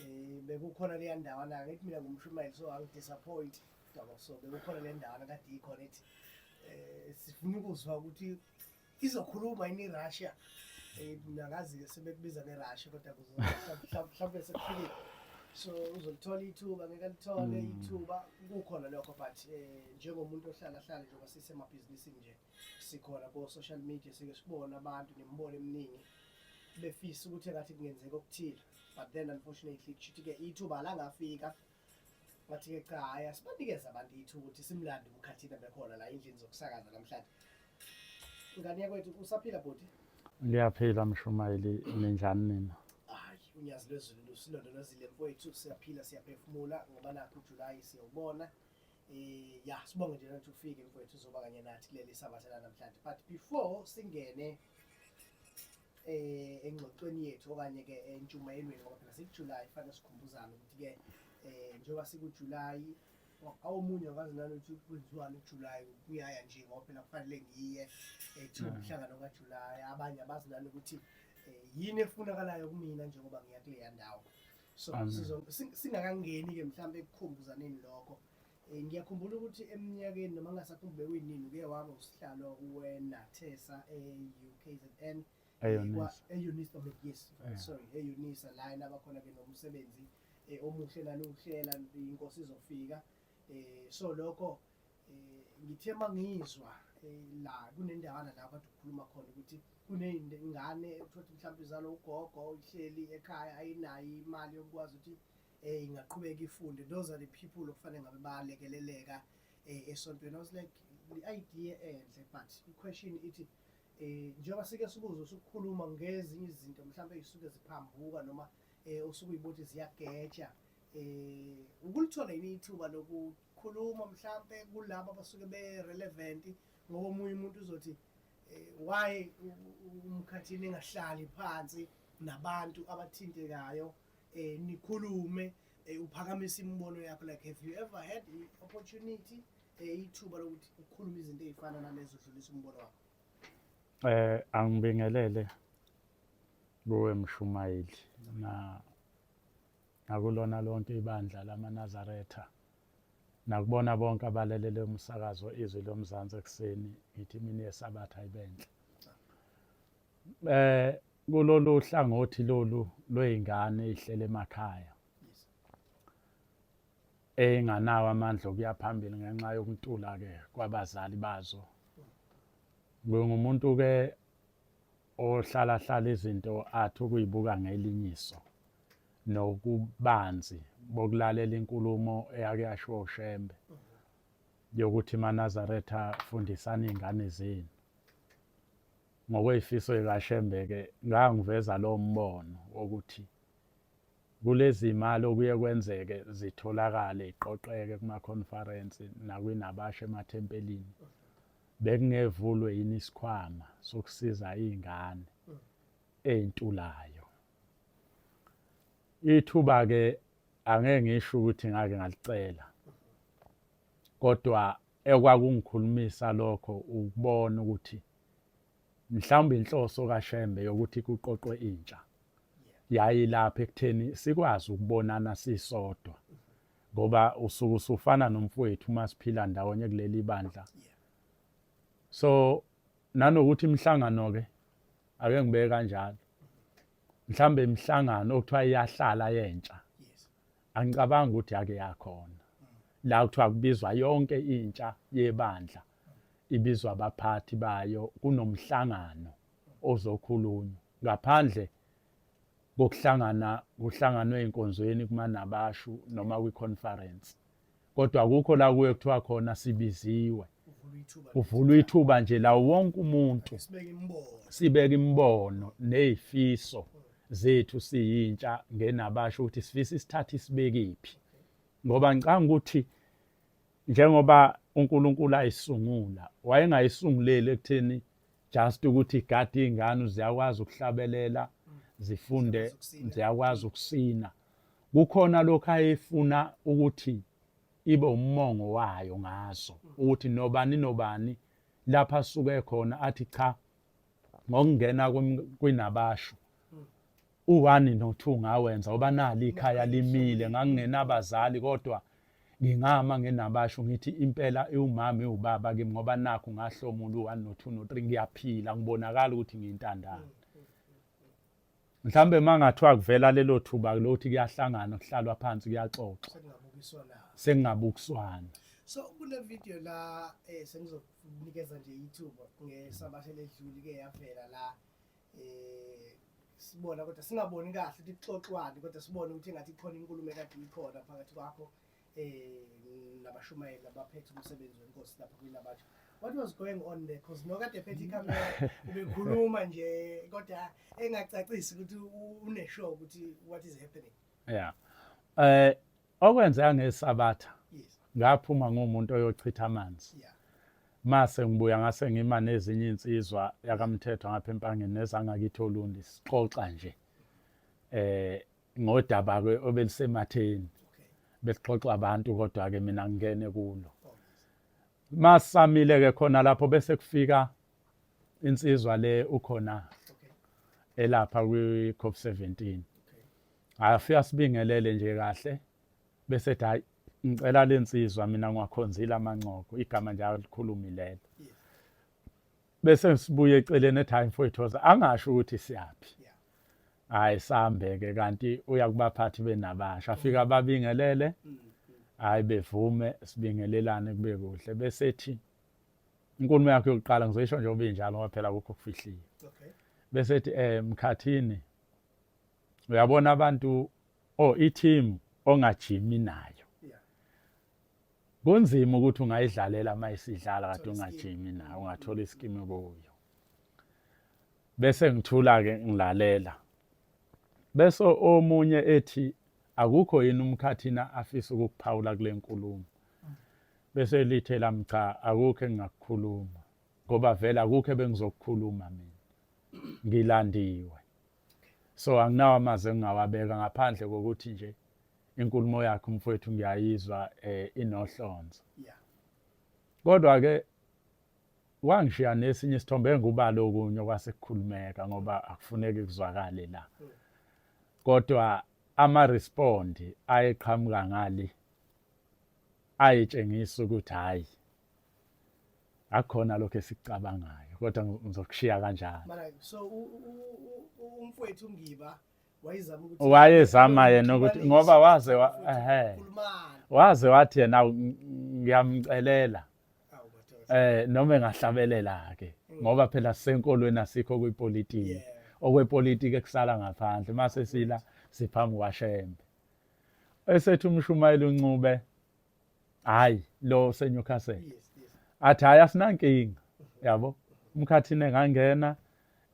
Eh bekukhona leya ndawana ngithi mina ngumshumayeli so angidisappoint daba so bekukhona le ndawana kade ikhona ethi eh sifuna ukuzwa ukuthi izokhuluma yini iRussia eh nakazi ke sebekubiza ngeRussia kodwa mhlawumbe sekufikile so uzolithola ithuba ngeke lithole hmm. ithuba kukhona lokho but eh njengomuntu ohlala hlala njengoba sisemabhizinisini nje sikhona ko social media sike sibona abantu nemibono eminingi befisa ukuthi engathi kungenzeka okuthile but then unfortunately kushuthi ke ithuba langafika wathi ke cha hayi asibanikeze abantu ithuba ukuthi simlande umkhathina bekhona la endlini zokusakaza namhlanje ngane yakwethu usaphila bhuti liyaphila mshumayeli ninjani nina hayi unyazi lwezulu lusilondolozile mfowethu siyaphila siyaphefumula ngoba nakho ujulayi siyawubona eh ya sibonge nje ukuthi ufike mfowethu uzoba kanye nathi kuleli sabatha namhlanje but before singene eh engxoxweni yethu okanye ke entshumayelweni ngoba phela sikuJuly fanele sikhumbuzane ukuthi ke eh njengoba sikuJuly awumunye akazi nani ukuthi kwenziwani uJuly kuyaya nje ngoba phela kufanele ngiye ethi eh, umhlangano mm. kaJuly abanye abazi nani ukuthi eh, yini efunakalayo kumina njengoba ngiya kuleya ndawo so sizongeni ke mhlawumbe ekukhumbuzaneni lokho Eh, ngiyakhumbula ukuthi eminyakeni noma ngingasakhumbule kuyinini uke waba usihlalo wenathesa e-ukzn eunisa yes sorry eunisa la nabakhona ke nomsebenzi eh, omuhle naniwuhlela inkosi izofika eh, so lokho ngithe uma ngizwa la kunendawana la kade ukhuluma khona ukuthi kuneyingane ekuthothi mhlawumbe izalo ugogo ihleli ekhaya ayinayo imali yokukwazi ukuthi eh ingaqhubeka ifunde those are the people okufanele ngabe bayalekeleleka eh esontweni i was like the idea enhle but i question ithi eh njengoba sike sibuze usukhuluma ngezinye izinto mhlawumbe ezisuke ziphambuka noma eh osuke uyibothi ziyageja eh ukulithola yini ithuba lokukhuluma mhlawumbe kulabo abasuke be relevant ngoba omunye umuntu uzothi eh, why umkhathini engahlali phansi nabantu abathintekayo eh nikhulume eh, uphakamisa imibono yakho like have you ever had i opportunity eh ithuba lokuthi ukhulume izinto ezifana nalezo dlulisa umbono wakho eh angibingelele kuwe mshumayeli na nakulona lonke ibandla lamanazaretha nakubona bonke abalalele umsakazo izwi lomzansi ekuseni ngithi mina yesabatha ibenhle eh kulolu hlangothi lolu lwey'ngane ey'hlele emakhaya ey'nganawo amandla okuya phambili ngenxa yokuntula-ke kwabazali bazo ngingumuntu-ke ohlalahlala izinto athi ukuyibuka ngelinyiso nokubanzi bokulalela inkulumo eyake yashiwo ushembe yokuthi manazaretha fundisani iy'ngane zenu Ngokweyifiso ikaShembe-ke ngangiveza lo mbono wokuthi kulezi mali okuye kwenzeke zitholakale iqoqeke kumakhonfarensi nakwinabasha emathempelini bekungevulwe yini isikhwama sokusiza iy'ngane ey'ntulayo ithuba-ke angeke ngisho ukuthi ngake ngalicela kodwa Ekwakungikhulumisa lokho ukubona ukuthi mhlawumbe inhloso kaShembe yokuthi kuqoqwe intsha yayilapha ekutheni sikwazi ukubonana sisodwa ngoba usuku sufana nomfowethu uma siphila ndawonye kuleli bandla so nanokuthi imihlangano ke ake ngibeke kanjalo mhlambe imihlangano okuthiwa iyahlala yentsha angicabangi ukuthi yake yakhona la kuthiwa kubizwa yonke intsha yebandla ibizwa abaphathi bayo kunomhlangano ozokhulunywa ngaphandle kokuhlangana kuhlanganwe enkonzweni kumanabashu noma kwi-conference kodwa kukho la kuye kuthiwa khona sibiziwe kuvulwa ithuba nje lawo wonke umuntu sibeka imibono nezifiso zethu siyintsha ngenabasho ukuthi sifisa isithathe isibekiphi ngoba ngicanga ukuthi njengoba uNkulunkulu ayisungula wayengayisunguleli ekutheni just ukuthi igadi ingane ziyakwazi ukuhlabelela zifunde ziyakwazi ukusina kukhona lokho ayefuna ukuthi ibe umongo wayo ngaso ukuthi nobani nobani lapha asuke khona athi cha ngokungena kwinabasho u-one no-two ngawenza ngoba nali ikhaya limile ngangingenabazali kodwa ngingama ngenabasho ngithi impela iwumama iwubaba kimi ngoba nakho ngahlomula u-one no-two no-three ngiyaphila ngibonakala ukuthi ngiyintandane mhlawumbe uma ngathiwa kuvela lelo thuba lokuthi kuyahlangana kuhlalwa phansi kuyaxoxwa sengingabukiswana so kule video la eh sengizokunikeza nje ithuba ngesabathe ledluli ke yavela la eh sibona kodwa singaboni kahle ukuthi kuxoxwani kodwa sibone ukuthi ngathi ikhona inkulumo ekade ikhona phakathi kwakho um nabashumayeli abaphethe umsebenzi wenkosi lapha kwilabatsha what was going on there because nokade phethe ikamera ubekhuluma nje kodwa engacacisi ukuthi uneshow ukuthi what is happening yeah eh okwenzeka ngesabatha yes ngaphuma ngumuntu oyochitha amanzi yeah mase ngibuya ngase ngima nezinye insizwa yakamthetho ngapha empangeni nezangakithi olundi sixoxa nje eh ngodaba ke obelisematheni besixoxa abantu kodwa ke mina ngingene kulo masamile ke khona lapho bese kufika insizwa le ukhona elapha kwi COP 17 afika sibingelele nje kahle bese ethi hayi ngicela lensizwa mina ngiwakhonzile amanqoko igama nje alikhulumi lelo bese ngisibuye eceleni ethi hayi mfowethu woza angasho ukuthi siyaphi hayi sambe-ke kanti uya kubaphathi benabasha afike ababingelele hayi bevume sibingelelane kube kuhle bese ethi inkulumo yakho yokuqala ngizoyisho njengoba injalo ngoba phela kukho okufihliwe bese ethi um eh, mkhathini uyabona abantu o oh, i-team ongajimi nayo kunzima ukuthi ungayidlalela uma isidlala kade ungajimi nayo ungathola isikimi kuyo bese ngithula-ke ngilalela bese omunye ethi akukho yini umkhathina afisa ukukuphawula kule nkulumo bese lithe lami cha akukho engingakukhuluma ngoba vele akukho ebengizokukhuluma mina ngilandiwe so anginawo amazi engingawabeka ngaphandle kokuthi nje inkulumo yakho mfowethu ngiyayizwa eh inohlonzo yeah kodwa ke wangishiya nesinye isithombe engubalo okunye kwasekukhulumeka ngoba akufuneki kuzwakale la hmm. kodwa ama respond ayeqhamuka ngale ayetshengisa ukuthi hayi akukhona lokho esicabangayo kodwa ngizokushiya kanjalo so umfowethu ngiba wayezama yena ukuthi ngoba waze ehe waze wathi yena ngiyamcelela eh noma engahlabelela ke mm. ngoba phela senkolweni asikho kwipolitiki okwepolitiki ekusala ngaphandle mase sila siphambi kwaShembe esethu umshumayeli uNcube hayi lo seNewcastle yes, yes. athi hayi asinankinga yabo umkhathini engangena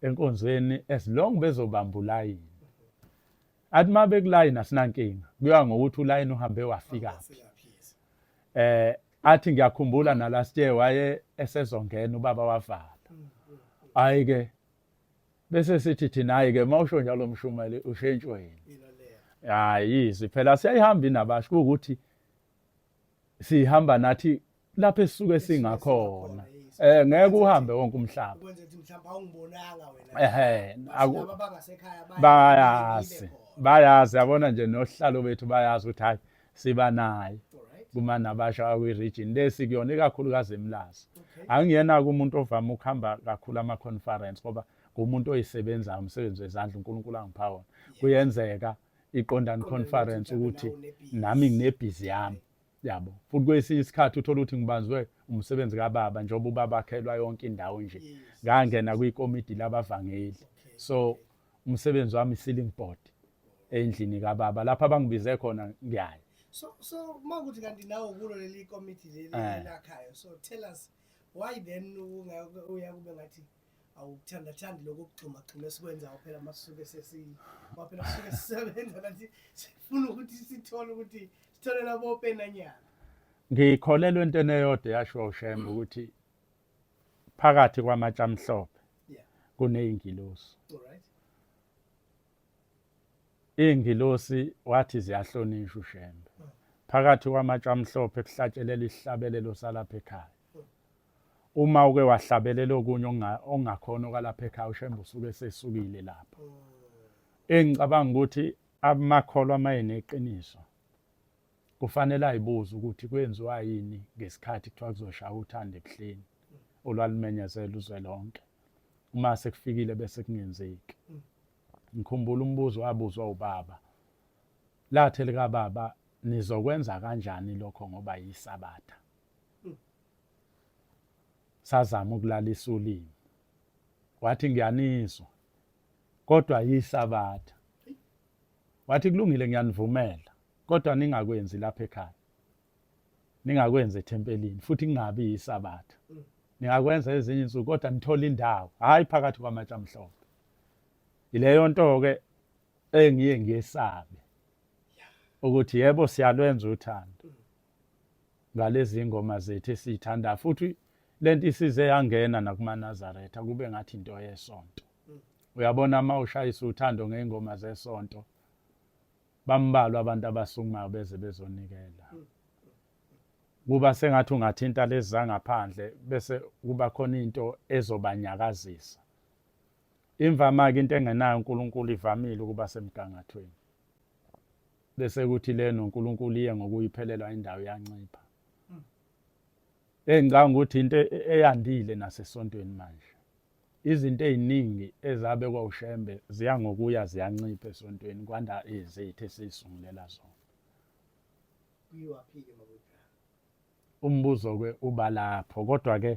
enkonzweni as long bezobamba ulayini athi uma bekulayini asinankinga kuyoya ngokuthi ulayini uhambe wafikaphi eh athi ngiyakhumbula na last year waye esezongena ubaba wavala hayi ke bese sithi thina hayi ke mawusho njalo mshumeli ushentshwe yini hayi izwi phela siyayihambi nabasho ukuthi sihamba nathi lapho esisuke singakhona eh ngeke uhambe wonke umhlaba ukwenza ukuthi mhlawumbe awungibonanga wena ehe laba bangasekhaya bayazi bayazi yabona nje nohlalo bethu bayazi ukuthi hayi siba naye kumane abasha kwi-region le sikuyona ikakhulukazi emlazi angiyena-ke umuntu ovame ukuhamba kakhulu ama-conference ngoba ngumuntu oyisebenzayo umsebenzi wezandla unkulunkulu angipha wona kuyenzeka iqondani conference ukuthi nami nginebhizi yami yabo futhi kwesinye isikhathi uthola ukuthi ngibanzwe umsebenzi kababa njengoba ubaba akhelwa yonke indawo nje ngangena kwikomidi labavangeli so umsebenzi wami ceiling board endlini kababa lapha bangibize khona ngiyaya so so uma ukuthi kanti nawe kulo leli committee leli eh. lakhayo so tell us why then uya kube ngathi awukuthanda thandi lokho kugxuma gxuma esikwenza phela masuke sesi phela suke sisebenza kanti sifuna ukuthi sithole ukuthi sitholela bopenanyana ngikholelwa entweni eyodwa yasho uShembe ukuthi phakathi kwamatshe amhlophe kuneyingilosi iyingilosi wathi ziyahlonishwa ushembe hmm. phakathi kwamatshe amhlophe kuhlatshelela isihlabelelo salapha ekhaya hmm. uma uke wahlabelela okunye ongakhona okalapha ekhaya ushembe usuke sesukile lapho hmm. engicabanga ukuthi amakholwa amaye neqiniso Kufanele ayibuze ukuthi kwenziwa yini ngesikhathi kuthiwa kuzoshaya uthando ebuhleni olwalumenyezela uzwe lonke. Uma sekufikile bese kungenzeki. Ngikhumbula umbuzo wabuzwa ubaba. Lathe lika baba nizokwenza kanjani lokho ngoba yisabatha. Sazama ukulalisa ulimi. Wathi ngiyanizwa. Kodwa yisabatha. Wathi kulungile ngiyanivumela kodwa ningakwenzi lapha ekhaya. Ningakwenza ethempelini futhi kungabi yisabatha. Ningakwenza ezinye insuku kodwa nithola indawo hayi phakathi kwamatshe amhlophe. Ileyo nto ke engiye ngiyesabe ukuthi yebo siyalwenza uthando ngalezi ngoma zethu esiyithanda futhi lento isize yangena nakumaNazaretha kube ngathi into yesonto uyabona uma ushayisa uthando ngey'ngoma zesonto bambalwa abantu abasukumayo beze bezonikela kuba sengathi ungathinta lezi zangaphandle bese kuba khona into ezobanyakazisa imvama-ke into engenayo unkulunkulu ivamile ukuba semgangathweni bese kuthi le nonkulunkulu iye ngokuyiphelelwa indawo yancipha engicanga ukuthi into eyandile nasesontweni manje Izinto eziningi ezabekwa uShembe ziya ngokuya ziyancipha esontweni kwanda izethu esizisungulela zona. Kuyiwaphike mabujana. Umbuzo ke uba lapho kodwa ke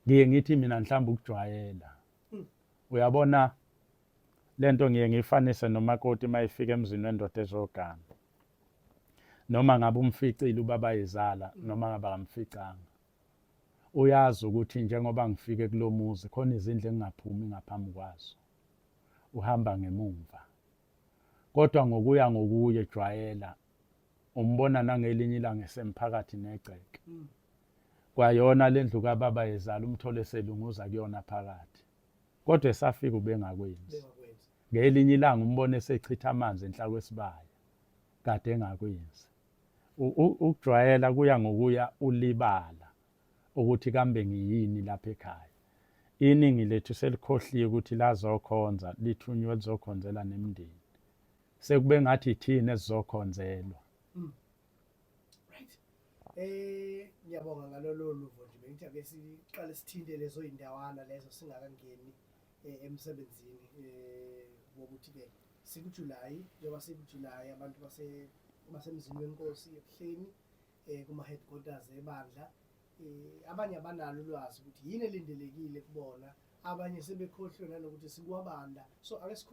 ngiye ngithi mina mhlawumbe ukujwayela. Hmm. Uyabona lento ngiye ngifanise nomakoti mayifika emzini wendoda ezogana noma ngabe umficile ubaba izala noma ngabe akamficanga Uyazi ukuthi njengoba ngifike kulo muzi khona izindlu engingaphumi ngaphambi kwazo. Uhamba ngemumva. Kodwa ngokuya ngokuye jwayela umbona nangelinye ilanga esemphakathi negceke. Hmm. Kwayona le ndlu kababa yezala umthole selunguza kuyona phakathi. Kodwa esafika ubengakwenzi. Ngelinye ilanga umbona esechitha amanzi enhla kwesibaya. Kade engakwenzi. ukujwayela kuya ngokuya ulibala ukuthi kambe ngiyini lapha ekhaya iningi lethu selikhohliwe ukuthi lazokhonza lithunywe lizokhonzela nemndeni sekube ngathi ithini esizokhonzelwa mm. right eh ngiyabonga ngalolo luvo nje bengithi ake siqale sithinte lezo indawana lezo singakangeni eh, emsebenzini eh wokuthi ke Sikujulayi njengoba sikujulayi abantu base basemzini wenkosi ebuhleni eh kuma headquarters ebandla eh abanye abanalo ulwazi ukuthi yini elindelekile kubona abanye sebekhohlwe nanokuthi sikwabanda so ake